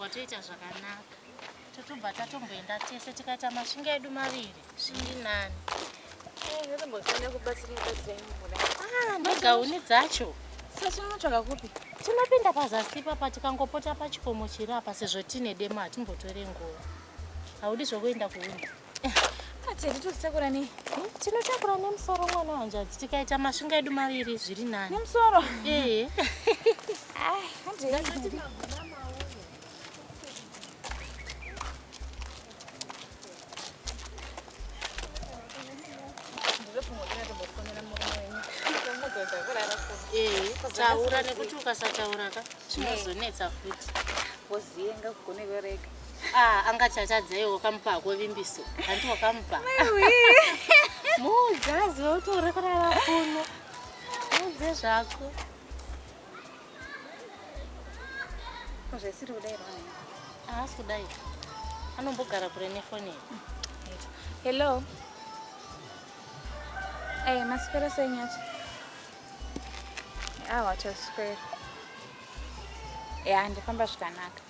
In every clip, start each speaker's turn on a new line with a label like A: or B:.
A: Watoita zvakanaka. Totobva tatomboenda tese tikaita mashinga edu maviri. Shingi nani? Eh, ndotombofanira kubatsira kubatsira imwe muda. Ah, negauni dzacho. Saka tinotsvaga
B: kupi? Tinopinda pazasi
A: ipapa tikangopota pachikomo chiri apa sezvo tine demo hatimbotore nguva. Haudi zvokuenda kuhuni? Tete
B: tositakura nei? Hmm? Tinotakura
A: nemusoro mwana wanjazi. Tikaita masvinga edu maviri zviri nani. Nemusoro? Eh.
B: Ah, hande.
A: Eh, taura nekuti ukasataura ka zvinozonetsa futi. Woziyenga
B: kugone vereka. Ah, anga chatadza
A: iwe wakamupa hako vimbiso. Hanti wakamupa. Muudzazi wautora kurara kuno. Muudze zvako.
B: Zvesiri kudai rwani. Haasi kudai.
A: Anombogara kure nefoni.
B: Hello. Eh, maswera sei nyathi? Awa, taswera. Ya, ndifamba zvakanaka.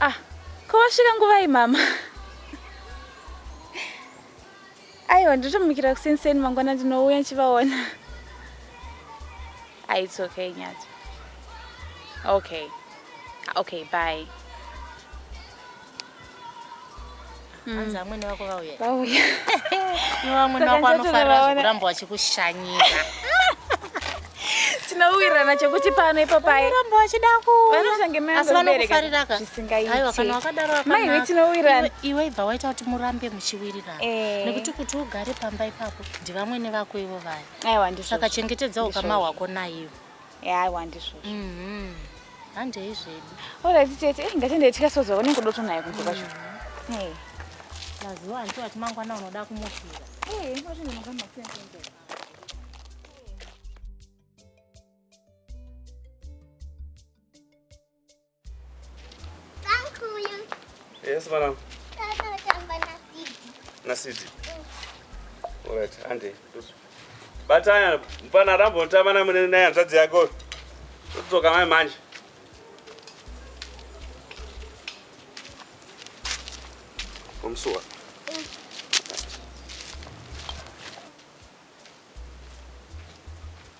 B: Ah, ko wasvika nguvai mama? Aiwa, ndotomukira kuseni seni mangwana ndinouya ndichivaona. Ah, it's okay Nyati. Okay. Okay, bye.
A: Mm. hanzi amwene vako vauya vauya
B: iwe
A: amwene vako anofanira kuramba vachikushanyira
B: tinowirirana chekuti pano ipapairamba vachida
A: kuasi
B: vanokufariraka
A: aiwa kana
B: wakadaro
A: maiwe tinowirirana
B: iwe ibva waita kuti
A: murambe muchiwirirana eh. nekuti kuti ugare pamba ipapo ndivamwene vako ivo vaya aiwa ndisaka
B: chengetedza ukama
A: hwako naivo Yeah, I want izvozvo.
B: Mhm.
A: Handei zvedu. Alright tete, eh,
B: ngatiende tikasoza wanenge kudoto naye kunze kwacho. Hey. Mazuva
A: hanti wati mangwana unoda kumufira. Hey, wati ndinoga
B: masense.
C: Yes, madam. Nasidi. All right, Andy. Batanya, mpana rambo ntama na mune naye hanzvadzi yako. Todzoka mai manje. Omsuwa.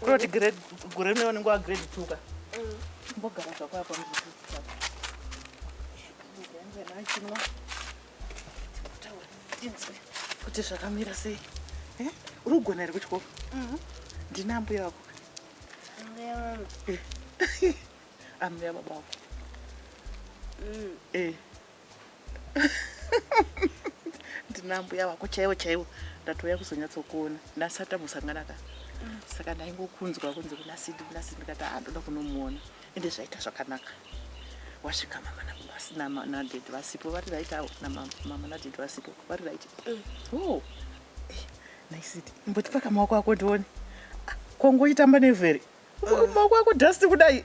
D: kuroti
C: gore rine vanenge wagrade two ka mbogara zvako apa kuti zvakamira sei eh? uri kugona here kuchikoro mhm. ndina ambuya vako ambuya baba vako mm. eh. ndinambuya vako chaivo chaivo ndatouya kuzonyatsokuona ndasati tambosangana ka saka ndaingokunzwa kunzi kuna sidi kuna sidi ndikati ha ah, ndoda kunomuona ende zvaita zvakanaka wasvika mama naded vasipo vari right avo namama naded vasipo vari right mm. oh. eh, naisidi mbotipaka maoko ako ndione ah, kongoitamba nevheri mm. maoko ako dust kudai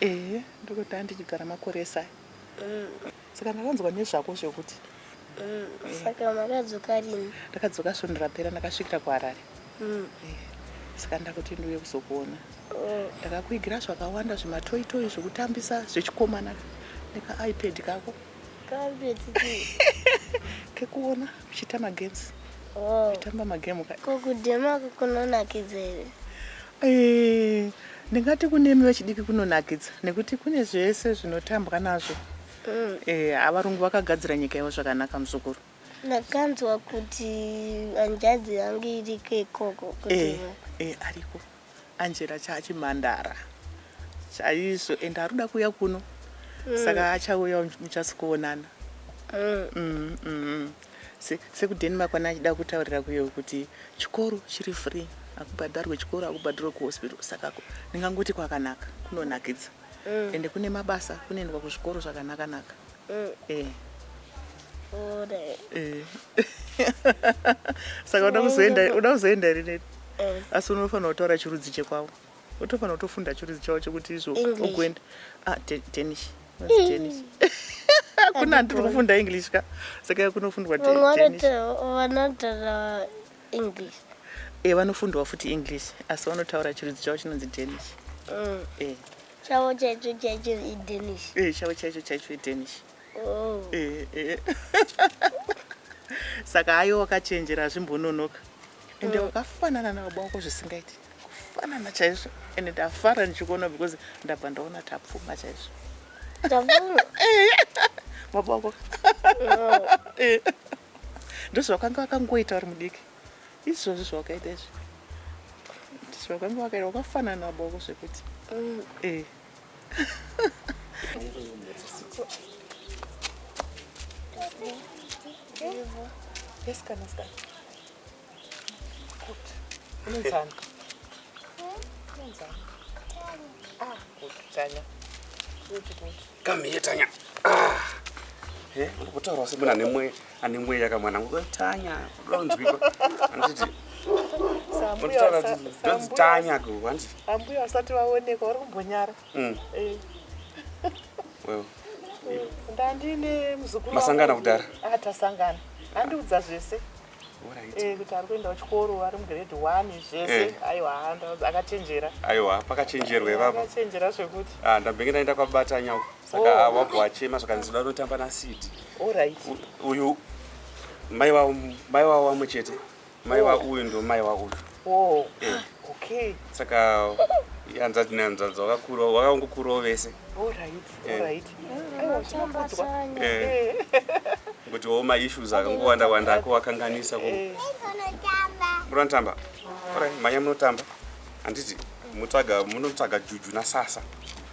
C: ehe ndokutanga ndichigara makore esai saka ndakanzwa nezvako zvekuti saka
D: makadzoka rini ndakadzoka svondo rapera
C: ndakasvikira kuharare saka ndakuti ndiuye kuzokuona ndakakuigira zvakawanda zvematoitoi zvekutambisa zvechikomana nekaipad kako kekuona uchiita magames uchitamba magame ka kokudhema
D: kukunonakidza here Eh, ndingati
C: kunemi vechidiki kunonakidza nekuti kune zvese zvinotambwa nazvo. Mm. Eh, avarungu vakagadzira nyika yavo zvakanaka muzukuru. Ndakanzwa
D: kuti hanzvadzi yangu iriko ikoko kuti Eh, eh,
C: ariko. Angela chaachimhandara. Chaizvo and arikuda kuuya kuno. Saka achauya muchasikuonana. Mm, mm. Se, sekudeni makwana achida kutaurira kuyo kuti chikoro chiri free akubhadharwe chikoro akubhadharwe kuhospital saka ndingangoti kwakanaka kunonakidza mm. ende kune mabasa kunoendwa kuzvikoro zvakanakanaka mm. eh. eh. saka uda kuzoenda uda kuzoenda rineti eh. asi unofanira kutaura chirudzi chekwavo Utofanira kutofunda chirudzi chavo chekuti izvo English. ugoenda ah, te- Danish What's Danish kuna ndiri kufunda English ka saka yakunofundwa de- vamwe Danish vanotaura-
D: vanotaura english eh vanofundwa
C: futi English asi vanotaura chirudzi chavo chinonzi Danish Mm. eh
D: chavo chaicho chaicho idanish eh chavo chaicho chaicho
C: iDanish Oh. eh eh saka hayo wakachenjera zvimbononoka ende mm. wakafanana nababa wako zvisingaiti kufanana chaizvo ende ndafara ndichikuona because ndabva ndaona tapfuma chaizvo baba wako mm. eh. ndozvakanga vakangoita vari mudiki izvozvi zvawakaita izvi ndizvakanga wakaita wakafanana nababa wako zvekuti mm. eh. Come here,
E: Tanya. Ah. Eh, unotaura semuna nemwe ane mweya ka mwana wangu tanya unonzwikwa anditi ndonzi tanya ko handi ambuya vasati
C: vaoneka vari kumbonyara mm. eh.
E: well ndandine
C: muzukuru masangana kudhara ah
E: tasangana
C: andiudza zvese eh, kuti ari kuenda kuchikoro ari mugrade one zvese eh. aiwa akachenjera aiwa pakachenjerwa
E: ivapochenjera zvekuti
C: ah, ndambenge ndaenda
E: kwabatanya uko saka oh. wabva wachema zvakanzi da unotamba nasiti uyu mai wavo wamwe chete mai oh. wauyu ndo mai wauyu oh. eh.
C: saka
E: hanzvadzi nehanzvadzi wakakura wakangokurawo vese kuti wo maissues akangowanda wanda ako wakanganisa ko eh. munotamba manya munotamba handiti munotsvaga juju nasasa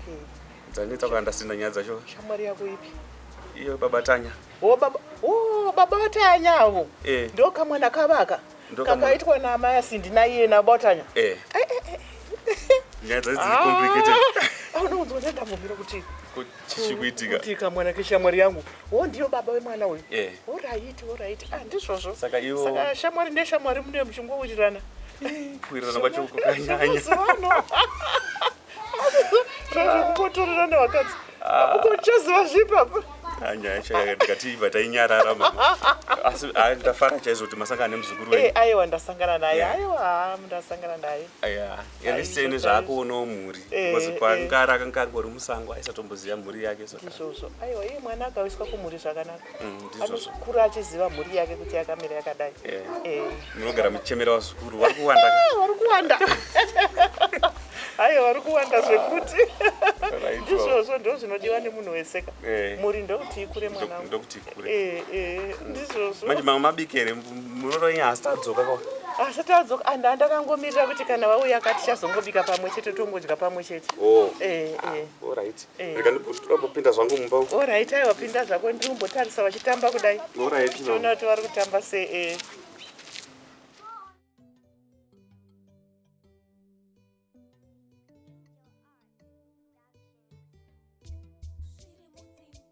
E: Okay. Dzanetsa kana ndasina nyaya dzacho. Shamwari yako ipi?
C: Iyo baba
E: Tanya. Oh baba, oh
C: baba Tanya avo. Eh. Ndo kamwana kavaka. Ndo kamwana. Kakaitwa na amai asindi na iye na baba Tanya. Eh. Eh, eh, eh. Nyaya
E: dzacho dziri Ah. complicated. Ah, unounzwa kuti
C: ndambomira kuti Kuti chichikuitika.
E: kuti kamwana
C: keshamwari yangu. Oh ndiyo baba wemwana uyu. Eh. All right, all right. Ah ndizvozvo. Saka ivo- Saka
E: shamwari neshamwari
C: mune muchingowirirana. Kuwirirana
E: kwacho kukanyanya. Mazuva ano.
C: zvazvekukotorerana vakadzi ukochaziva zvipapa anyaya chaiya
E: ndikati iva tainyarara asi ndafara chaizvo kuti masangana nemuzukuru wenyu eh, aiwa ndasangana naye
C: aiwa ndasangana naye aya erise
E: nezvaakoonawo mhuri eh, bcause eh. kwangara akanga angori musango aisatomboziva mhuri yake so izvozvo aiwa iye mwana
C: akawiswa kumhuri zvakanaka Mm, anokura
E: achiziva
C: mhuri yake kuti yakamira yakadai eh. Eh. munogara
E: muchemera vazukuru vari kuwanda vari kuwanda
C: aiwa vari kuwanda zvekuti ndizvozvo ndo zvinodiwa nemunhu weseka eh. muri ndokuti ikure mwanandokuti ikure
E: ndizvozvo
C: manje mama mabikere
E: muroora inya asi tadzoka kwa asi tadzoka and
C: andakangomirira kuti kana vauya kati chazongobika pamwe chete tongodya pamwe chete oh. ah, olright
E: Eh. rega ndibhusitira kupinda zvangu mumba uko Alright, aiwa pinda zvako
C: ndiri kumbotarisa vachitamba kudai. Alright, no. Tiona kuti
E: vari kutamba
C: sei. eh.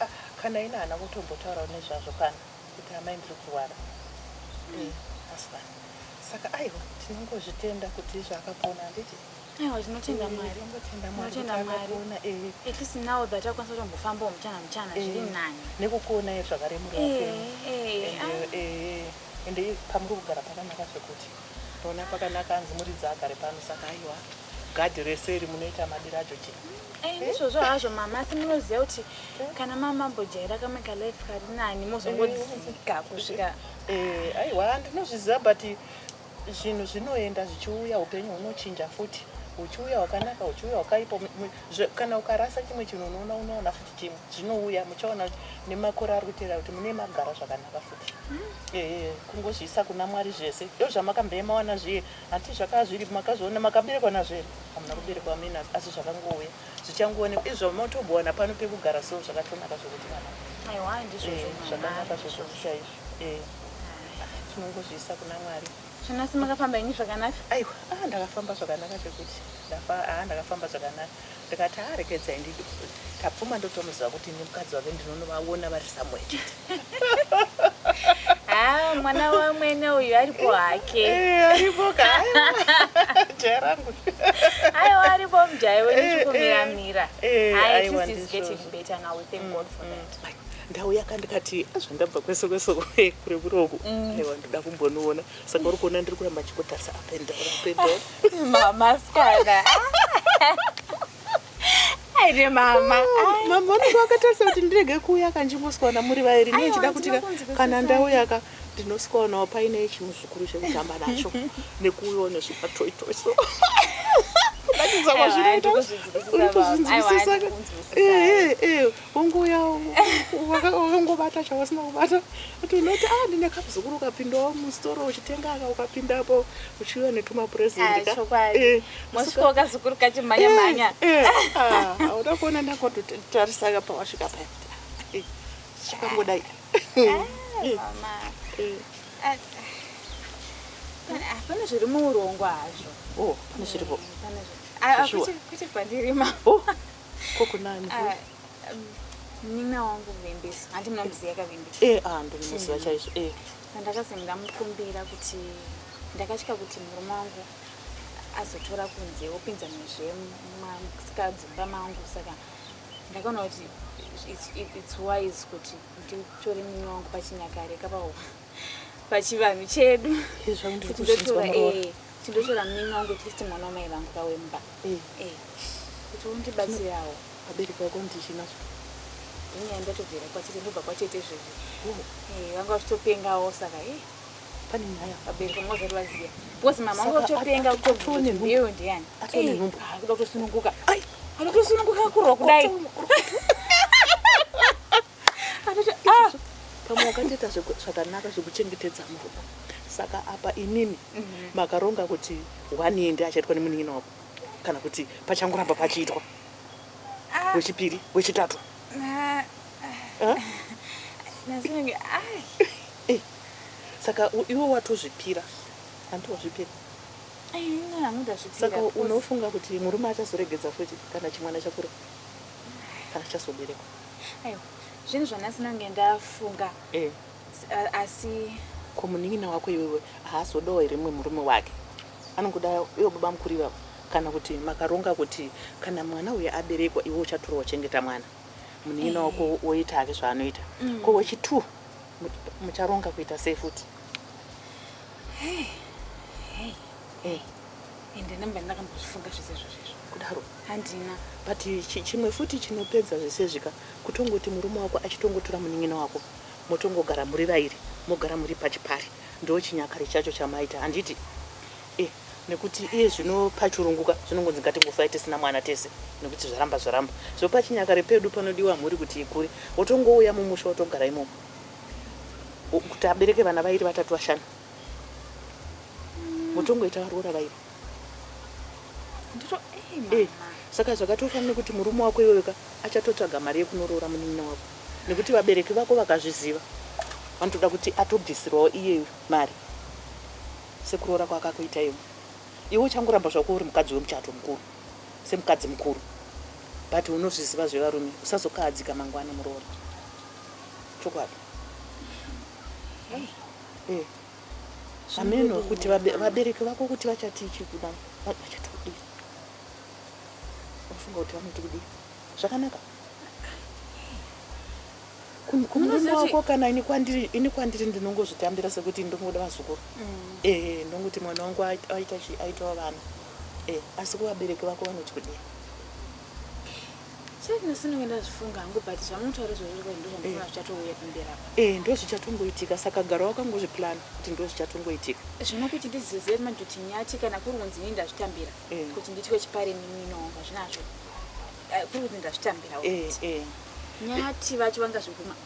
B: Ah, kana
C: ina hana kutombotaurawo nezvazvo pano kuti amai ndiri kurwara eh, husband saka aiwa tinongozvitenda kuti izvo akapona handiti aiwa tinotenda Eh, mwari tinotenda
B: Mwari Tinotenda kuti Mwari. akapona, eh. at least now that akwanisa kutombofambawo muchana muchana Eh, zviri nani nekukuonai zvakare
C: muri Eh, vapenyu eh, And, ah. eh, ende pamuri kugara pakanaka zvekuti ndona pakanaka hanzi muridzi agare pano saka aiwa Gadhi rese iri munoita madiro acho chii? Eh, ndizvozvo hazvo mama
B: asi munoziva kuti kana mama mambojaira kamwe kalife kari nani mozongodzika kusvika Eh, aiwa
C: ndinozviziva but zvinhu zvinoenda zvichiuya upenyu hunochinja futi uchiuya wakanaka uchiuya wakaipa Mu- mu- zve- kana ukarasa chimwe chinhu unoona unoona futi chimwe zvinouya muchaona kuti nemakore ari kuteera kuti mune magara zvakanaka futi Eh, kungozviisa kuna mwari zvese ndozvamakamboema wana zviye Hanti zvakanga zviripo makazviona makaberekwa nazvo here hamuna kuberekwa mina asi zvakangouya zvichangoonekwa izvi zvamotobowana pano pekugara so zvakatonaka zvokuti kana eh,
B: zvakanaka zvokuti
C: chaizvo eh, tinongozviisa kuna mwari chinasi makafamba
B: ini zvakanaka aiwa ah, ndakafamba
C: zvakanaka chekuti ndafa ah, ndakafamba zvakanaka ndikati haa rekedzai ndidii tapfuma ndotomuziva kuti ini mukadzi wake ndinonovaona vari somewhere chete haa
B: mwana wamwene uyu aripo hake eh, aripo ka
C: jaya rangu aiwa
B: aripo mjaya wenyu eh, chikumiramira eh, ai this is getting better now we thank god for mm, that mm. ndauya ka ndikati
C: azvandabva kwese kwese kure kure uku mm. aiwa ndoda kumbonoona saka uri kuona ndiri kuramba chikotarisa apendapendora mama
B: skana aire mama mama vanenge
C: vakatarisa kuti ndirege kuuya kanjimoswana muri vairi ne chida kuti kana ndauyaka ndinosikanawo paine chimuzukuru chekutamba nacho nekuuyawo nezvimatoitoi so kudakidzakazvinoita uri kuzvinzwisisa Unguya wakangobata chawasina kubata kuti unoti ah ndine kamuzukuru ukapindawo musitoro uchitenga aka ukapindapo uchiuya netumapurezidentika eh,
B: mosvika ukazukuru kachimhanya mhanya eh, eh,
C: ah, auda kuona ndangototarisaka pawasvika paya chikangodai
B: pane zviri muurongwa hazvo oh, pane zviripo kwete kwandiri ma oh. Ko
C: kunani? Ah,
B: munin'ina um, wangu Vimbiso. Hanti munomuziva ka Vimbiso? Eh, ah, ndinomuziva chaizvo.
C: Eh. Sandakazi
B: ndamukumbira kuti ndakatya kuti murume wangu azotora kunze opinza muzvemukadzimba mangu saka ndakaona kuti it's wise kuti nditore munin'ina wangu pachinyakare kapawo. pachivanhu chedu chindotora eh, mnini wangu atleast mwana wamai vangu vawemba eh. eh, kuti undibatsirawo abereki vako
C: ndichinazo inyaya
B: ndatobvira kwatete ndobva kwatete zvezvi oh. vanga vachitopengawo saka e pane
C: nyaya abereki vanga vazari vaziva
B: because mama vanga vachitopenga kutoeyo ndiyani kuda kutosununguka anotosununguka kurwa kudai
C: ah! pamwe wakatoita zvakanaka zvekuchengetedza murume saka apa inini mhm. makaronga kuti one year ndi achaitwa nemunin'ina wako kana kuti pachangoramba pachiitwa ah. wechipiri wechitatu eh, saka iwe watozvipira hanti wazvipira saka unofunga kuti murume achazoregedza futi kana chimwana chakura kana chazoberekwa aiwa
B: zvinhu zvanhasi nange ndafunga eh. uh, asi ko munin'ina
C: wako iwewe haazodawo here mumwe murume wake anongoda iwo baba mukuru ivavo kana kuti makaronga kuti kana mwana uyo aberekwa iwe uchatura wachengeta mwana munin'ina wako eh. woita hake zvaanoita mm. ko wechitwo mucharonga kuita sei futi
B: hey. Hey, ende namba ndakambozvifunga zvese zvozvezvo
C: kudaro handina
B: but
C: chimwe futi chinopedza zvese zvika kutongoti murume wako achitongotora munin'ina wako motongogara muri vairi mogara muri pachipari ndo chinyakare chacho chamaita handiti eh, nekuti iye zvino pachurunguka zvinongonzi ngatingofa tisina mwana tese nekuti zvaramba zvaramba so pachinyakare pedu panodiwa mhuri kuti ikure wotongouya mumusha wotogara imomo kuti abereke vana vairi vatatu vashanu motongoita varoora vaiva eh, saka zvakatofanira nekuti murume wako iweweka achatotsvaga mari yekunoroora munin'ina wako nekuti vabereki vako vakazviziva vanotoda kuti atobvisirwawo iyeyo mari sekuroora kwakakuita iwe iwe uchangoramba zvako uri mukadzi wemuchato mukuru semukadzi mukuru but unozviziva zvevarume usazokahadzika mangwana muroora chokwadi hey. eh hameno kuti vabereki vako kuti vachatii chii kuda vachati kudii unofunga kuti vanoti kudii zvakanaka kumurume wako kana ini kwandiri ini kwandiri ndinongozvitambira sekuti ndongoda vazukuru mm. ee eh, ndongoti mwana wangu aita chii aitawo vana ee eh, asi kuvabereki vako vanoti kudii
B: Eh, ndo zvichatongoitika
C: saka gara wakangozviplan kuti ndo zvichatongoitika zvino kuti ndizive
B: manje kuti nyati kana kuri kunzi ini ndazvitambira eh. kuti nditwe chipare mimino hazvinazvo eh, kuri kunzi ndazvitambira nyati vacho vangazvibvuma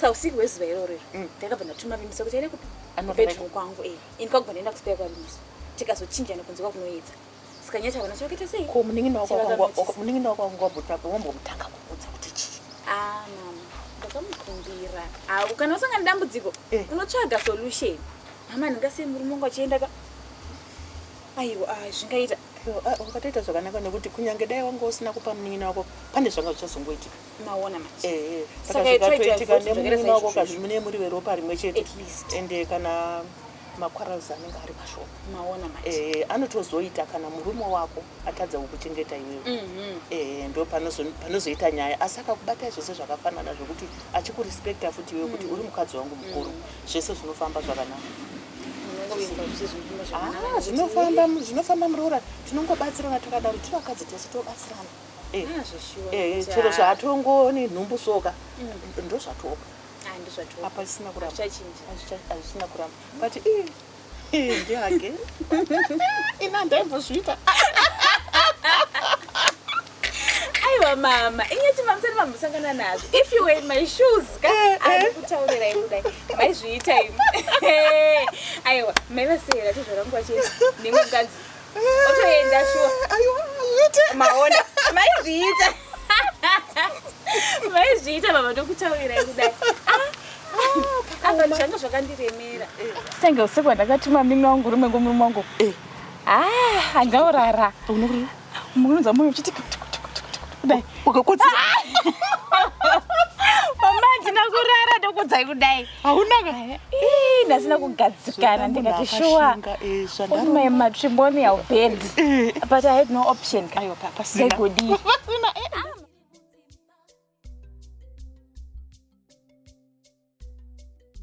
C: sa
B: usiku hwezuva iroro iro mm. ndakabva ndatuma vimisa kuti aende kubedroom kwangu e ini kwakubva ndaenda kuspera kwavimisa tikazochinjana kunze kwakunoedza saka nyati havana chivakaita sei ko
C: munin'ina wako wangu wambotapo wambomutanga kuudza kuti chii a ah, mama
B: ndakamukumbira ah, kana usangana dambudziko eh. unotsvaga solution mama ndingasei murume wangu achienda ka Aiwa ah, zvingaita ah, ukatoita
C: zvakanaka nekuti kunyange dai wanga usina kupa munin'ina wako pane zvanga zvichazongoitika maona manje
B: ehe Saka saka it tried to zvikatoitika
C: avoid zvakanaka nemunin'ina wako izvozvo. kazi mune muri veropa rimwe chete At least. ende kana maquarrels anenge ari mashoma maona manje ehe
B: anotozoita kana
C: murume wako atadza kukuchengeta iwewe Mhm. ehe ndo panozo- panozoita nyaya asi akakubata zvese zvakafanana zvekuti achikurespekta futi iwe kuti uri mukadzi wangu mukuru zvese zvinofamba zvakanaka Ah, zvinofamba zvinofamba muroora tinongobatsirana takadaro tiri vakadzi tese tobatsirana eh, ah, eh, eh, chero zvatongoni nhumbu soka mm. ndozvatoka ah, apa isina kuramba azvisina kuramba but ndiage ina ndaimbozviita
B: Aiwa mama, inyati mamusana mamusangana nazvo. If you were in my shoes, ka eh, eh. andikutaurira imi dai. Maizviita imi. Aiwa, mai vasera tizvarangwa chete nemwe mukadzi. Otoenda shuwa. Aiwa, ite. Maona, maizviita. Maizviita mama ndokutaurira imi dai. Ah, ah, apa zvanga zvakandiremera. Senge usiku ndakatuma mimi wangu rume ngomurume wangu. Eh. Ah, angaurara. Unokurira. Munonza moyo uchiti kudai. Ukakotsa. Mama ndina kurara ndokudzai kudai. Hauna ka.
C: Ii ndasina
B: kugadzikana ndikati shuwa. Eh, With my matrimonial bed.
C: Eh.
B: But I had no option. Ayo papa sina. Ndegodi. Papa sina. Eh.